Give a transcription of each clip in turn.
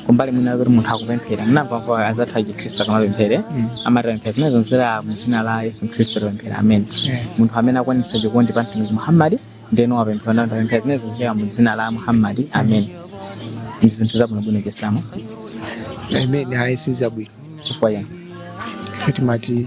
kumbali mwina kuti munthu akupemphera munamvamva anzathu achikhristu akamapemphera amati tapemphera zimenezo kudzera mu dzina la yesu khristu tapemphera amen munthu amene akwanitsa chikondi pa mtumiki muhammadi ndeno wapemphera nayenso tapemphera zimenezo kudzera mu dzina la muhammadi amen ndi zinthu zabwinobwino chisilamu amen ayi sizabwino chifukwa chani ife timati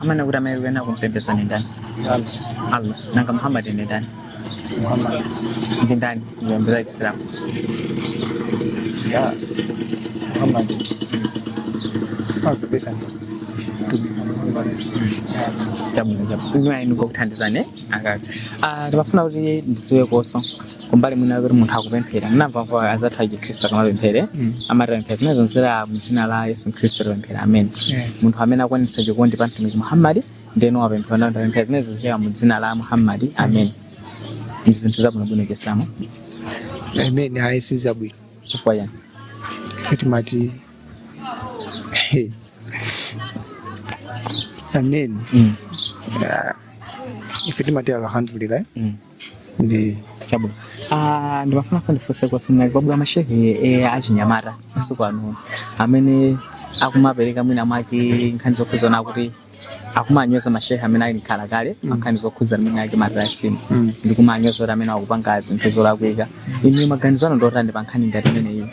amene kuti amayenera kumpembedza ndi ndani allah nanga muhammad ndi ndani ndi ndani muyambira chisilamu ya muhammad timapembedza ndi mtume muhammad chabwino chabwino inu kokuthandizani akati Ah, ndimafuna kuti ndidziwe koso kumbali mwina kuti munthu akupemphera mumamva mva anzathu a chikhristu akamapemphera Mm. amati tapemphera zimenezo kudzera mu dzina la yesu khristu tapemphera amen Yes. munthu amene akwanitsa chikondi pa mtumiki muhammadi ndeno wapemphera nao tapemphera zimenezo kudzera mu dzina la muhammadi amen ndi zinthu zabwinobwino chisilamu Amen. Ayi sizabwino. chifukwa chani Kati mati. Hey. Amen. Mm, Ife timati alhamdulillah. mm, ndi chabwino Ah, ndimafunanso ndifunse kuti panali kwabwera mashehe eh, achinyamata masiku ano amene akumapereka mwina mwake nkhani zokhudzana kuti akumanyoza mashehe amene ali mkhala kale nkhani zokhudzana mwina mwake matilasimu ndikumanyoza kuti amenewa akupanga zinthu zolakwika inu maganizo anu ndiotani pa nkhani ngati imeneyi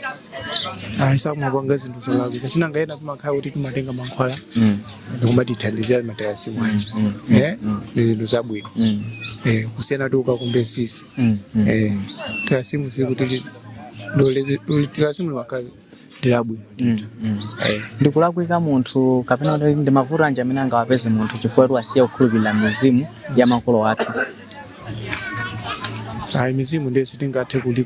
ayi sakumapanga zinthu zolakwika si nanga ena timakhala kuti timatenga mankhwala Mm. ndikumatithandizira matilasimu aja Mm, mm, Eh, mm. ndi zinthu zabwino Mm. Eh, kusiyana kuti ukakumbe mitsitsi Mm. Mm. Eh, tilasimu sikuti tilasimu limakhala ndilabwino Mm. Mm. Eh, ndikulakwika munthu kapena kuti ndi mavuto anji amene angawapeze munthu chifukwa kuti wasiya kukhulupirira mizimu ya makolo athu ayi mizimu ndiye sitingathe kuli